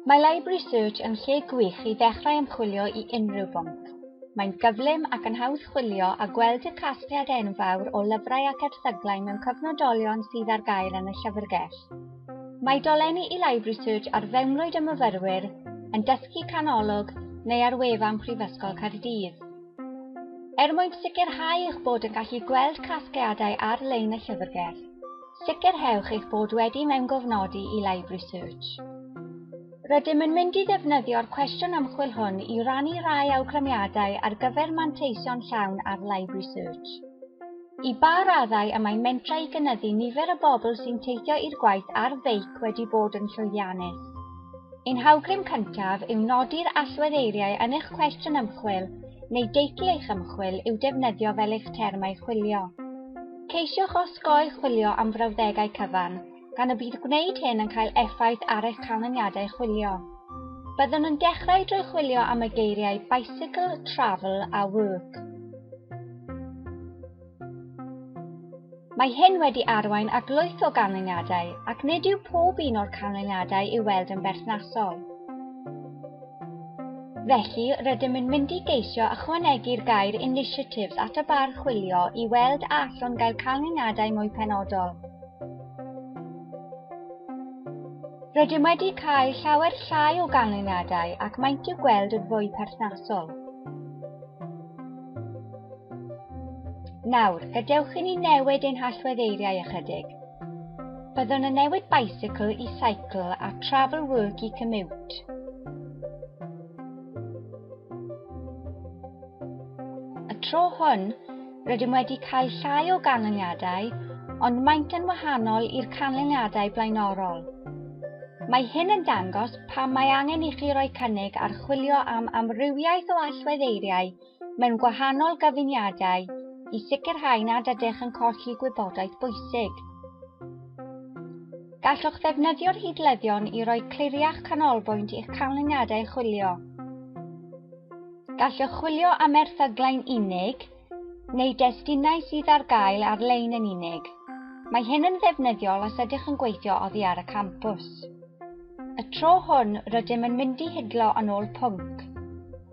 Mae Library Search yn lle gwych i ddechrau ymchwilio i unrhyw bwnc. Mae'n gyflym ac yn hawdd chwilio a gweld y casgliad enfawr o lyfrau ac erthyglau mewn cyfnodolion sydd ar gael yn y llyfrgell. Mae dolenni i Library Search ar fewnwyd y myfyrwyr, yn dysgu canolog neu ar wefan Prifysgol Caerdydd. Er mwyn sicrhau eich bod yn gallu gweld casgliadau ar-lein y llyfrgell, Sicrhewch eich bod wedi mewngofnodi i Live Research. Rydym yn mynd i ddefnyddio'r cwestiwn ymchwil hwn i rannu rhai awgrymiadau ar gyfer manteision llawn ar Live Research. I ba raddau y mae mentrau i gynyddu nifer y bobl sy'n teithio i'r gwaith ar feic wedi bod yn llwyddiannus? Ein hawgrym cyntaf yw nodi'r allwedd eiriau yn eich cwestiwn ymchwil neu deitl eich ymchwil i'w defnyddio fel eich termau chwilio. Ceisiwch osgoi chwilio am frawddegau cyfan, gan y bydd gwneud hyn yn cael effaith ar eich canlyniadau chwilio. Byddwn yn dechrau drwy chwilio am y geiriau bicycle, travel a work. Mae hyn wedi arwain at lwyth o ganlyniadau ac nid yw pob un o'r canlyniadau i'w weld yn berthnasol. Felly, rydym yn mynd i geisio ychwanegu'r gair initiatives at y bar chwilio i weld a allwn gael canlyniadau mwy penodol. Rydym wedi cael llawer llai o ganlyniadau ac maent i'w gweld yn fwy perthnasol. Nawr, gadewch i ni newid ein hallweddeiriau ychydig. Byddwn yn newid bicycle i cycle a travel work i commute. Y tro hwn, rydym wedi cael llai o ganlyniadau, ond maent yn wahanol i'r canlyniadau blaenorol. Mae hyn yn dangos pam mae angen i chi roi cynnig ar chwilio am amrywiaeth o allweddeiriau mewn gwahanol gyfuniadau i sicrhau nad ydych yn colli gwybodaeth bwysig. Gallwch ddefnyddio'r hidlyddion i roi cliriach canolbwynt i'ch canlyniadau chwilio. Gallwch chwilio am erthyglau unig neu destunau sydd ar gael ar-lein yn unig. Mae hyn yn ddefnyddiol os ydych yn gweithio oddi ar y campws. Y tro hwn, rydym yn mynd i hidlo yn ôl pwnc.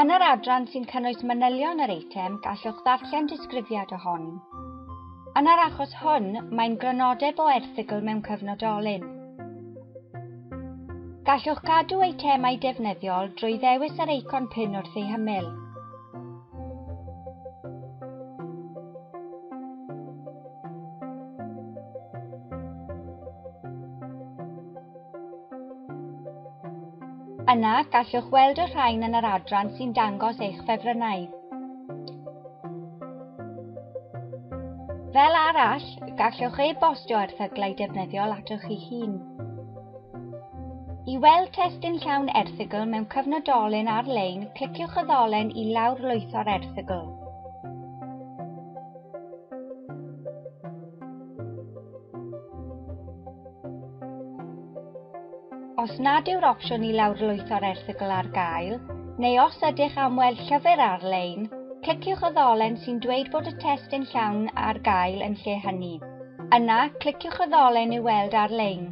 Yn yr adran sy'n cynnwys manylion yr eitem, gallwch ddarllen disgrifiad o hon. Yn yr achos hwn, mae'n grynodeb o erthygl mewn cyfnodolyn. Gallwch gadw eitemau defnyddiol drwy ddewis yr eicon pin wrth ei hymyl. Yna, gallwch weld y rhain yn yr adran sy'n dangos eich ffefrynnau. Fel arall, gallwch e-bostio erthyglau defnyddiol atoch chi hun. I weld testun llawn erthygl mewn cyfnodolyn ar-lein, cliciwch y ddolen i lawrlwytho'r erthygl. Os nad yw'r opsiwn i lawrlwytho'r erthygl ar gael, neu os ydych am weld llyfr ar-lein, cliciwch y ddolen sy'n dweud bod y testun llawn ar gael yn lle hynny. Yna, cliciwch y ddolen i'w weld ar-lein.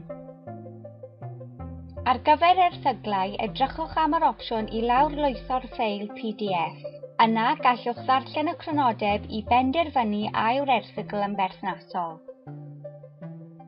Ar gyfer erthyglau, edrychwch am yr opsiwn i lawrlwytho'r ffeil pdf. Yna, gallwch ddarllen y crynodeb i benderfynu a yw'r erthygl yn berthnasol.